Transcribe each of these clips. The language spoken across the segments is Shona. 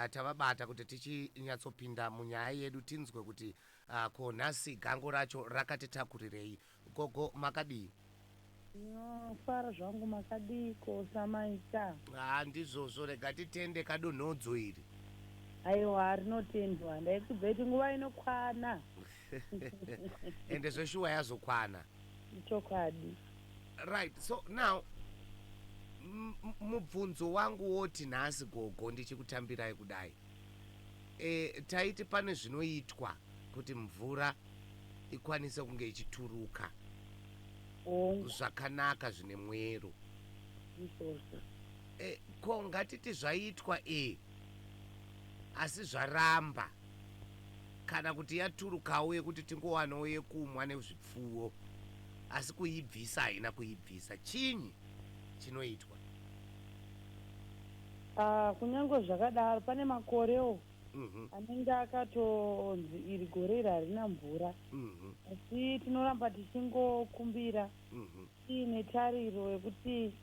tavabata kuti tichinyatsopinda munyaya yedu tinzwe kuti ko nhasi gango racho rakatitakurirei. Gogo makadii? Ndinofara zvangu makadiiko samaita? Haa ndizvozvo rega titende kadonhodzo iri. Aiwa rinotendwa ndaikudzai kuti nguva inokwana. Ende zveshuwa yazokwana. Ichokwadi. Right, so now mubvunzo wangu woti nhasi gogo ndichikutambirai kudai e, taiti pane zvinoitwa kuti mvura ikwanise kunge ichituruka zvakanaka zvine mwero e, ko ngatiti zvaitwa e asi zvaramba kana kuti yaturukawo yekuti tingowanawo yekumwa nezvipfuwo asi kuibvisa haina kuibvisa chinyi chinoitwa Ah, kunyange zvakadaro pane makorewo Mhm, anenge akatonzi iri gore iri harina mvura mhm, asi tinoramba tichingokumbira mhm. tiine tariro yekuti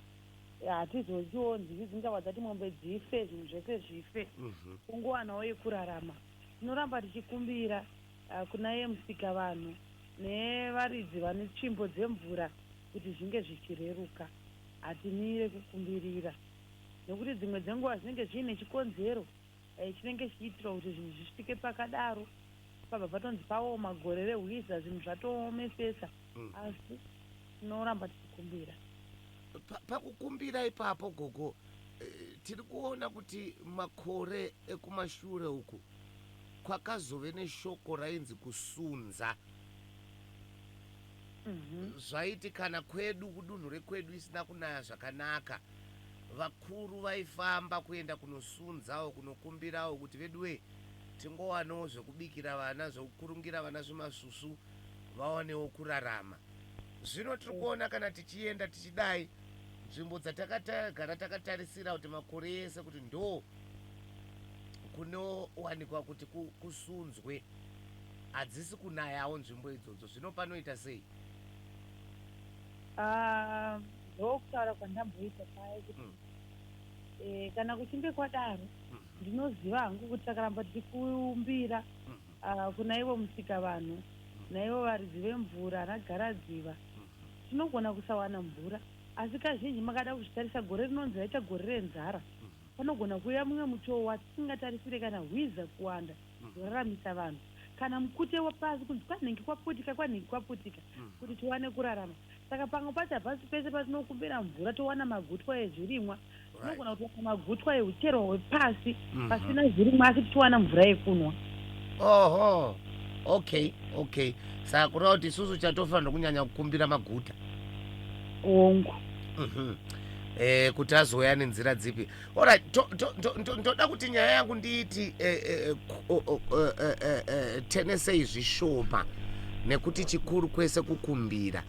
hatizonziwo nzivi dzingava dzati mombe dzife zvinhu zvese zvife Mhm. kungowanawo yekurarama tinoramba tichikumbira Hakuna iye Musikavanhu nevaridzi vane tsvimbo dzemvura kuti zvinge zvichireruka. Hatimire kukumbirira nekuti dzimwe dzenguva zvinenge zviine chikonzero chinenge chichiitirwa kuti zvinhu zvisvike pakadaro. Pabva patonzi paoma gore rehwiza zvinhu zvatoomesesa asi tinoramba tichikumbira. Pakukumbira ipapo gogo tiri kuona kuti makore ekumashure uku kwakazove neshoko rainzi kusunza. Zvaiti kana kwedu kudunhu rekwedu isina kunaya zvakanaka, vakuru vaifamba kuenda kunosunzawo, kunokumbirawo kuti veduwee tingowanawo zvekubikira vana, zvekukurungira vana zvimasvusvu vawanewo kurarama. Zvino tiri kuona kana tichienda tichidai, nzvimbo dzatakagara takatarisira kuti makore ese kuti ndoo, kunowanikwa kuti kusunzwe hadzisi kunayawo nzvimbo idzodzo zvino panoita sei ah, ndokutaura kwandamboita paya kuti mm. e, kana kuchinge kwadaro mm -hmm. ndinoziva hangu kuti takaramba tiri kumbira mm -hmm. uh, kuna ivo musika vanhu mm -hmm. naivo varidzi vemvura anagaradziva mm -hmm. tinogona kusawana mvura asi kazhinji makada kuzvitarisa gore rinonzi raita gore renzara mm -hmm. panogona kuuya mumwe mutoo watisingatarisire kana hwiza kuwanda zvinoraramisa vanhu. Kana mukute wapasi kunzi kwanhingi kwaputika, kwanhingi kwaputika kuti tiwane kurarama. Saka pamwe pacho hapasi pese patinokumbira mvura towana magutwa ezvirimwa. Tinogona kutowana magutwa ehucherwa hwepasi pasina zvirimwa asi tichiwana mvura yekunwa. Oho, okay, okay. Saka kureva kuti isusu chatofanirwa kunyanya kukumbira maguta. Hongu. Mhm. eh, kuti azouya nenzira dzipi orit ndoda kuti nyaya yangu ndiiti eh, eh, eh, tenesei zvishoma nekuti chikuru kwese kukumbira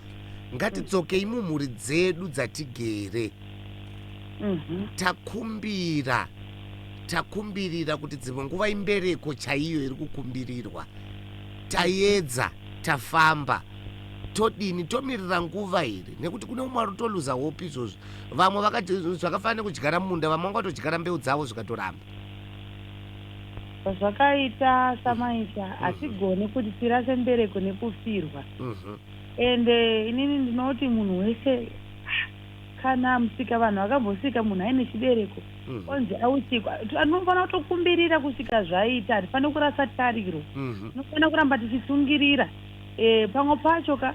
ngatidzokei mumhuri dzedu dzatigere mhm. takumbira takumbirira kuti dzimwe nguva imbereko chaiyo iri kukumbirirwa tayedza tafamba todini tomirira nguva here nekuti kune umwe arutoluza hope izvozvi vamwe vakati zvakafanira nekudyara munda vamwe vanga vatodyara mbeu dzavo zvikatoramba zvakaita samaita mhm. hatigone kuti tirase mbereko nekufirwa mhm. and eh, inini ndinoti munhu wese kana musika vanhu vakambosika munhu aine chibereko mhm. onzi ausikwa anofanira kutokumbirira kusvika zvaita hatifanira kurasa tariro tinofanira kuramba tichisungirira Eeh pamwe pacho ka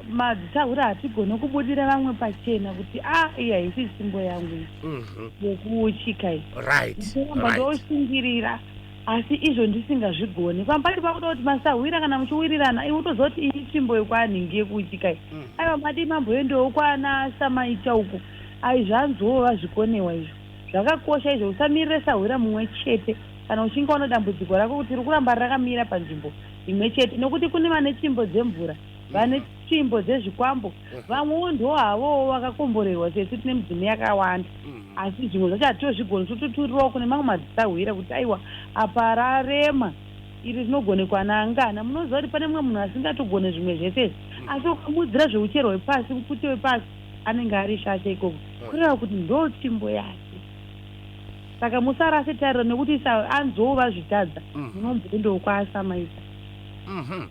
madzitahura hatigone kubudira vamwe pachena kuti a ah, iyi haisi tsvimbo yangu iyi mhm. yekuuchika iyi ndinoramba ndoshingirira asi izvo ndisingazvigoni pamwe pacho pakuda kuti masahwira kana muchiwirirana iwe utoziva kuti iyi tsvimbo yekwanhingi yekuuchika iyi mhm. aiwa madii mamboendewo kwana samaita uku ai zvanzoo vazvikonewa izvo zvakakosha izvo usamirire sahwira mumwe chete kana uchinge waona dambudziko rako kuti rikuramba rakamira panzvimbo imwe chete nokuti kune vane tsvimbo dzemvura mm. vane tsvimbo dzezvikwambo mm. vamwewo ndo havowo vakakomborerwa sesu tine midzimu yakawanda mm. asi zvimwe zvacho hatitozvigoni tototurirawo kune mamwe madzisahwira kuti aiwa apa rarema iri rinogonekwa naangana munoziva kuti pane mumwe munhu asingatogone zvimwe zvese asi ukamuudzira zveuchero hwepasi mupfuti wepasi anenge ari shasha ikoko kureva kuti ndo tsvimbo yake saka musarase tariro nekuti isa anzwoo vazvitadza mm. munombo ndokwaasamaisa mhm.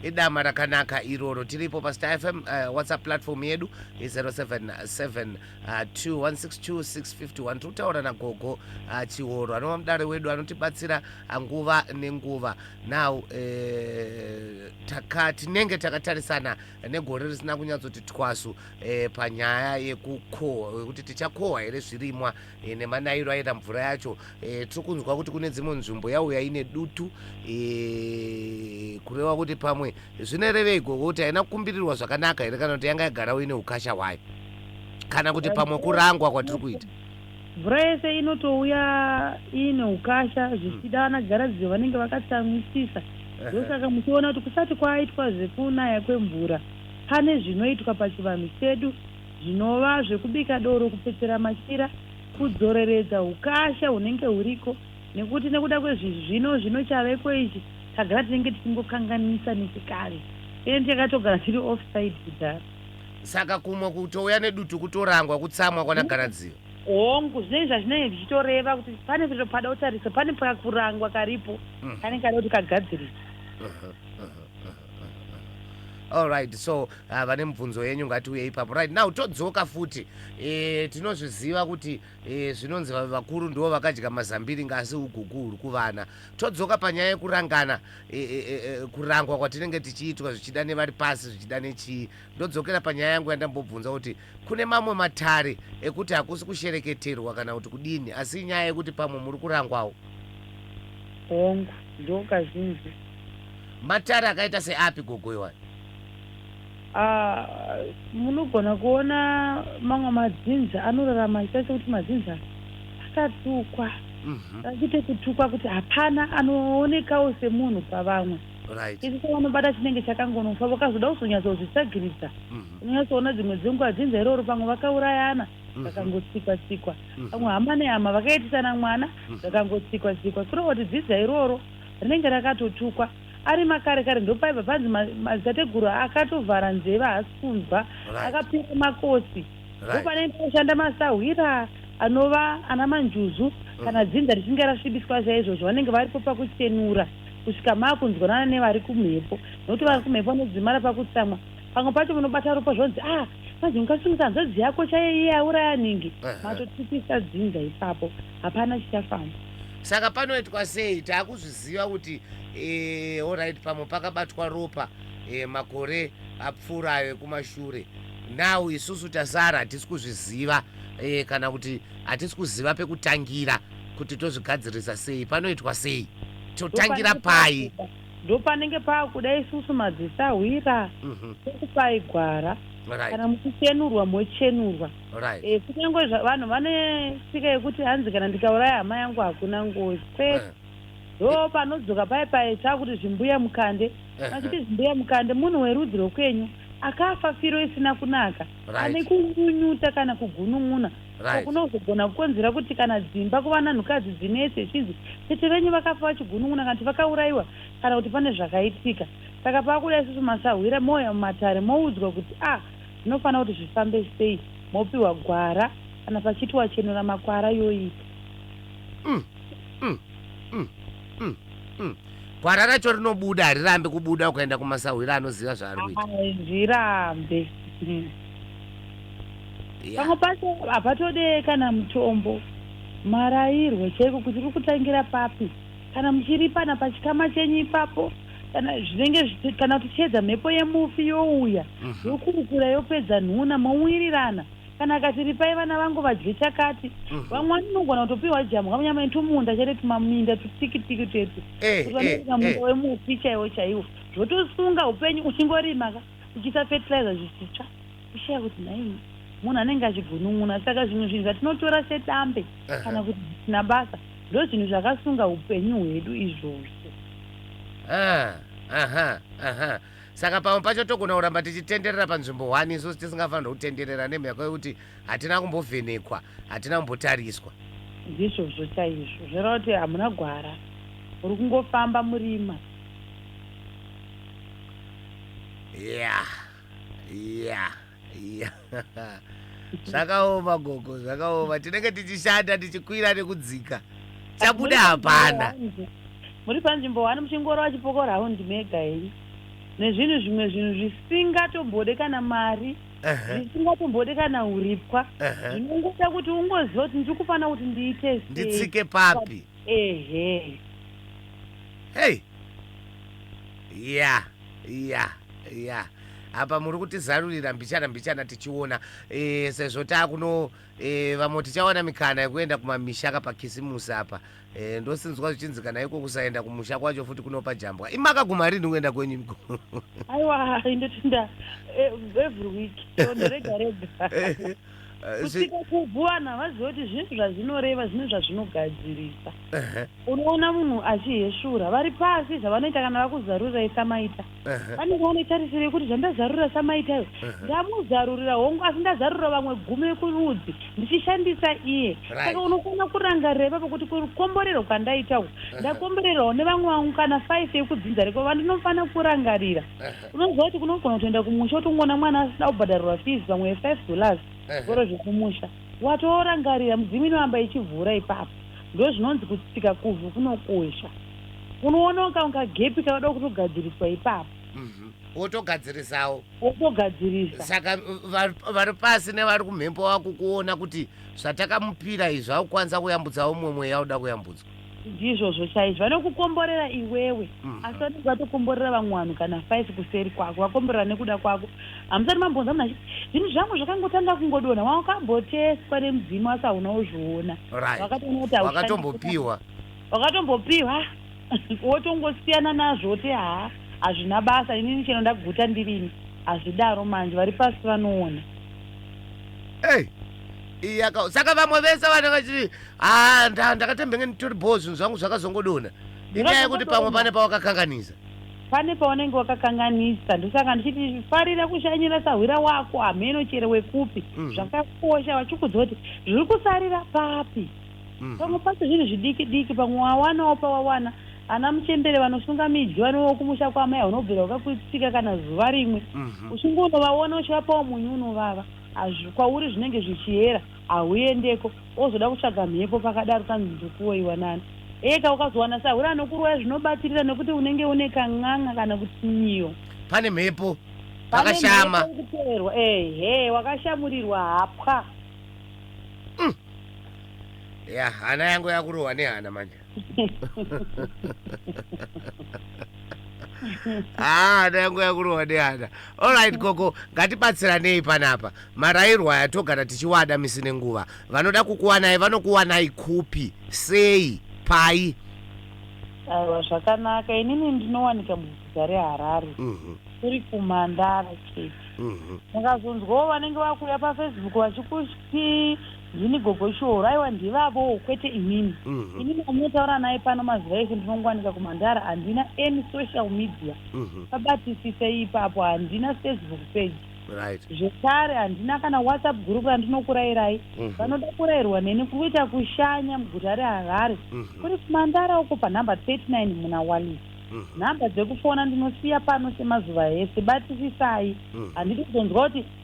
idama rakanaka iroro tiripo pastar fm uh, eh, whatsapp platform yedu i077 2162 uh, tikutaura nagogo uh, chihoro anova mudare wedu anotibatsira uh, nguva nenguva now uh, taka tinenge takatarisana negore risina kunyatsoti twasu uh, panyaya yekukohwa yekuti tichakohwa here zvirimwa e, nemanairo aita mvura yacho e, tiri kunzwa kuti kune dzimwe nzvimbo yauya ine dutu e, kureva kuti pamwe zvinorevei gogo kuti haina kukumbirirwa zvakanaka here kana kuti yanga yagarawo ine ukasha hwayo kana kuti pamwe kurangwa kwatiri kuita mvura yese inotouya iine ukasha hmm. zvichida vana garadziyo vanenge vakatsamwisisa ndosaka muchiona kuti kusati kwaitwa zvekunaya kwemvura pane zvinoitwa pachivanhu chedu zvinova zvekubika doro, kupfetsera machira, kudzoreredza hukasha hunenge huriko nekuti nekuda kwezvizvino zvino chaveko ichi tagara tinenge tichingokanganisa nechikare and takatogara tiri offside kudhara. Saka kumwe kutouya nedutu kutorangwa kutsamwa kwana Garadziva. Hongu, zvinenge zvazvinenge zvichitoreva kuti pane zviro pada kutarisa, pane pakurangwa karipo kanenge kada kuti kagadziriswe. alright so uh, vane mubvunzo yenyu ngatiuye ipapo right now todzoka futi e, tinozviziva kuti e, zvinonzi vakuru ndivo vakadya mazambiri ngasi ugugu huri kuvana todzoka panyaya yekurangana e, e, e, kurangwa kwatinenge tichiitwa zvichida nevari pasi zvichida nechii Ndodzokera panyaya yangu yandambobvunza kuti kune mamwe matare ekuti hakusi kushereketerwa kana kuti kudini asi inyaya yekuti pamwe muri kurangwawo. Hongu, ndiwo kazhinji. Matare akaita seapi gogo iwayo? Ah, munogona kuona mamwe madzinza anorarama achiita sekuti madzinza akatukwa Mhm. achite kutukwa kuti hapana anoonekawo semunhu pavamwe right isu sevanobata chinenge chakangonofa vakazoda kuzonyatsozvitsagiridza Mhm. unonyasoona dzimwe dzenguva dzinza iroro pamwe vakaurayana Mhm. zvakangotsikwa tsikwa Mhm. pamwe hama nehama vakaitisana mwana Mhm. zvakangotsikwa tsikwa kureva kuti dzinza iroro rinenge rakatotukwa ari makare kare ndopaibva panzi ma- madzitateguru akatovhara nzeve haasi kunzwa right akapinda makosi Right. Ndopanenge panoshanda masahwira anova ana manjuzu kana dzinza richinge rasvibiswa chaizvozvo vanenge varipo pakuchenura kusvika maakunzwanana nevari kumhepo nokuti vari kumhepo vanodzimara pakutsamwa pamwe pacho munobata ropa zvonzi ah manje ungasungisa hanzvadzi yako chaiye iye auraya nhingi Ehe. matotipisa dzinza ipapo hapana chichafamba saka panoitwa sei taakuzviziva kuti eh, alright pamwe pakabatwa ropa eh, makore apfuura ayo ekumashure Now isusu tasara hatisi kuzviziva eh, kana kuti hatisi kuziva pekutangira kuti tozvigadzirisa sei panoitwa sei totangira pai ndopanenge paakuda isusu madzisahwira mhm. tokupai mm -hmm. gwara right. kana muchichenurwa mochenurwa right. e, kunyange vanhu vane tsika yekuti hanzi kana ndikauraya hama yangu hakuna ngozi kwete eh. ndo panodzoka paye paye chakuti zvimbuya mukande machiti zvimbuya mukande munhu werudzi rwekwenyu akafa firo isina kunaka ane kunyunyuta kana kugunun'una so kunozogona kukonzera kuti kana dzimba kuva nanhukadzi dzinetse zvichinzi tete venyu vakafa vachigunun'una kana kuti vakaurayiwa kana kuti pane zvakaitika saka pakuda isusu masahwira mouya mumatare moudzwa kuti a ah, zvinofanira kuti zvifambe sei mopiwa gwara kana pachiti wachenura makwara yoita mm. Mm, mm, mm, mm. Gwara racho rinobuda harirambi kubuda ukaenda kumasahwira anoziva zvaari kuita. Hazvirambe. Mm. Yeah. Pamwe pacho hapatode kana mutombo. Marairwe chaiko kuti kuri kutangira papi. Kana muchiripana pachikama chenyu ipapo kana zvinenge zvichi- kana kuti chiedza mhepo yemufi youya Mhm. yokurukura yopedza nhuna mowirirana kana akati ripai vana vangu vadye chakati mhm. vamwe vati unogona kutopiwa jambwa munyama netwumunda chete tumaminda tutikitiki twete eh, kuti vanoita eh, munda eh. wemuti chaiwo chaiwo zvotosunga upenyu uchingorima ka uchiisa fertilizer zvichitsva ushaya kuti nhaii munhu anenge achigunun'una saka zvimwe zvinhu zvatinotora sedambe kana kuti zvisina basa ndo zvinhu zvakasunga upenyu hwedu izvozvo ah, aha aha Saka pamwe pacho togona kuramba tichitenderera panzvimbo one isusu tisingafanirwe kutenderera nemhaka yekuti hatina kumbovhenekwa, hatina kumbotariswa. Ndizvozvo chaizvo. Zvoreva kuti hamuna gwara, muri kungofamba murima. Yeah. Yeah. Iya. zvakaoma gogo zvakaoma tinenge tichishanda tichikwira nekudzika chabuda hapana muri panzvimbo wani muchingoro vachipoko raundi mega henyu nezvinhu zvimwe zvinhu zvisingatombode kana mari Ehe, zvisingatombode kana uripwa ehe. zvinongoda kuti ungoziva kuti ndiri kufanira kuti ndiite sei. nditsike papi ehe hei ya Ya ya apa muri kutizarurira mbichana mbichana tichiona e, sezvo taakuno e, vamwe tichawana mikana yekuenda kumamisha ka pakisimusi apa e, ndosinzwa zvichinzi kana iko kusaenda kumusha kwacho futi kunopa jambwa imakaguma rini kuenda kwenyu miko aiwa indotinda e, every week so ndirega rega kusvika kuvhu vanhu havazive kuti zvinhu zvazvinoreva zvine zvazvinogadzirisa unoona munhu achihesvura vari pasi zvavanoita kana vakuzarurai samaita vanenge vane tarisiro yekuti zvandazarurira samaita iyo ndamuzarurira hongu asi ndazarurira vamwe gumi vekurudzi ndichishandisa iye saka unokona kurangarira ipapo kuti kukomborerwa kwandaita uku ndakomborerwawo nevamwe vangu kana five yekudzinza reko vandinofanira kurangarira unoziva kuti kunogona kutoenda kumusha utongoona mwana asina kubhadharirwa fees pamwe ye5 dollars zvikoro zvekumusha watoorangarira mudzimu inovamba ichivhura ipapo ndo zvinonzi kutsika kuvhu kunokosha unoona ukaunga gepi kanoda kutogadziriswa ipapo mhm. wotogadzirisawo wotogadzirisa saka vari pasi nevari kumhepo vakukuona kuti zvatakamupira izvi akukwanisa kuyambudzawo mumwe mweya uda kuyambudzwa Ndizvozvo chaizvo. Vanokukomborera iwewe, asi vanenge vatokomborera vamwe vanhu kana five kuseri kwako. Vakomborera nekuda kwako. Hamusati mambonzwa munhu achiti, Zvinhu zvangu zvakangotanga kungodonha. Wakambotestwa nemudzimu asi hauna kuzviona. Right. Wakatoona kuti haushandi. Wakatombopiwa. Wakatombopiwa, wotongosiyana nazvo woti haa hazvina basa, inini chero ndaguta ndirini. Hazvidaro manje, vari pasi vanoona. Hey. Iyaka. Saka vamwe vese vanenge vachiti Ah, nda ndakatembenge nditori bhoo zvinhu zvangu zvakazongodona. Inyaya yekuti pamwe pane pawakakanganisa. Pane paunenge wakakanganisa ndosaka ndichiti farira kushanyira sahwira wako hameno chero wekupi mm. zvakakosha vachikuudza kuti zviri kusarira papi mm. pamwe pacho zvinhu zvidiki diki pamwe wawanawo pawawana ana muchembere vanosunga midyo vanowo kumusha kwamai unobvira wakakuitika kana zuva rimwe mm -hmm. uchingonovaona uchivapawo munyu unovava hazvi kwauri zvinenge zvichiyera Hahuendeko wozoda kutsvaga mhepo pakadaro tanzi ndokuroiwa nani. Eka ukazowana sahwira anokuroya zvinobatirira nekuti unenge une kan'anga kana kuti nyiyo. Pane mhepo pakashama. Pane mhepo kuperwa ehe wakashamurirwa hapwa. Mm. Yeah, hana yangu yakurohwa nehana manje. haa ah, yangu yakurohwa nehana olright gogo ngatibatsiranei panapa marairwa aya togara tichiwada misi nenguva vanoda kukuwanai vanokuwanai kupi sei pai aiwa zvakanaka inini ndinowanika muguta reharare mhm. kuri kumandara chete mhm. mukazonzwawo vanenge vakuuya pafacebook vachikuti Ndini gogo Shoro. Aiwa ndivavowo kwete inini. Inini wamunotaura naye pano mazuva ese ndinongowanika kuMhandara handina any social media. Pabatisisei ipapo handina Facebook page. Right. Zvekare handina kana WhatsApp group randinokurayirai. Vanoda kurayirwa neni kuri kuita kushanya muguta reHarare. Kuri kuMhandara uko panhamba 39 muna Wallis. Nhamba dzekufona ndinosiya pano semazuva ese. Batisisai. Handidi kuzonzwa kuti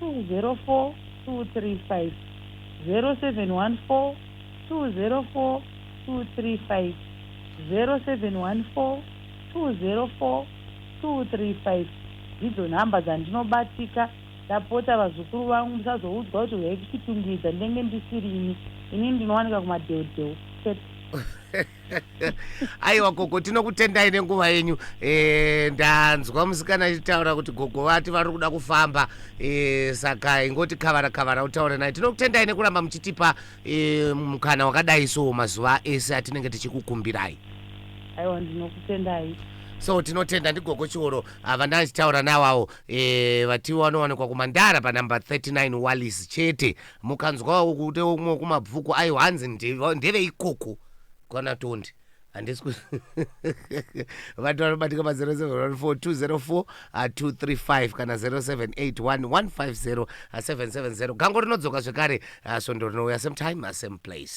204 ndidzo nhamba dzandinobatika ndapota vazukuru vangu musazoudzwa kuti huyai kuchitungwiza ndenge ndisirini ini ndinowanika kumadeudewu chete. aiwa gogo tinokutendai nenguva yenyu e, ndanzwa musikana achitaura kuti gogo vati vari kuda kufamba e, saka ingoti kavara kavara utaure naye tinokutendai nekuramba muchitipa e, mukana wakadai so mazuva ese atinenge tichikukumbirai aiwa ndinokutendai so tinotenda ndigogo chioro havana ah, achitaura nawawo eh, vatiwo vanowanikwa kumandara panumber 39 wallis chete mukanzwawo kute umwe kumabvuku ayo hanzi ndeveikoko kwana tondi handisi ku vanhu vanobatika pa 0714204235 kana 0781150770 ah, gango rinodzoka zvekare ah, svondo rinouya same time ah, same place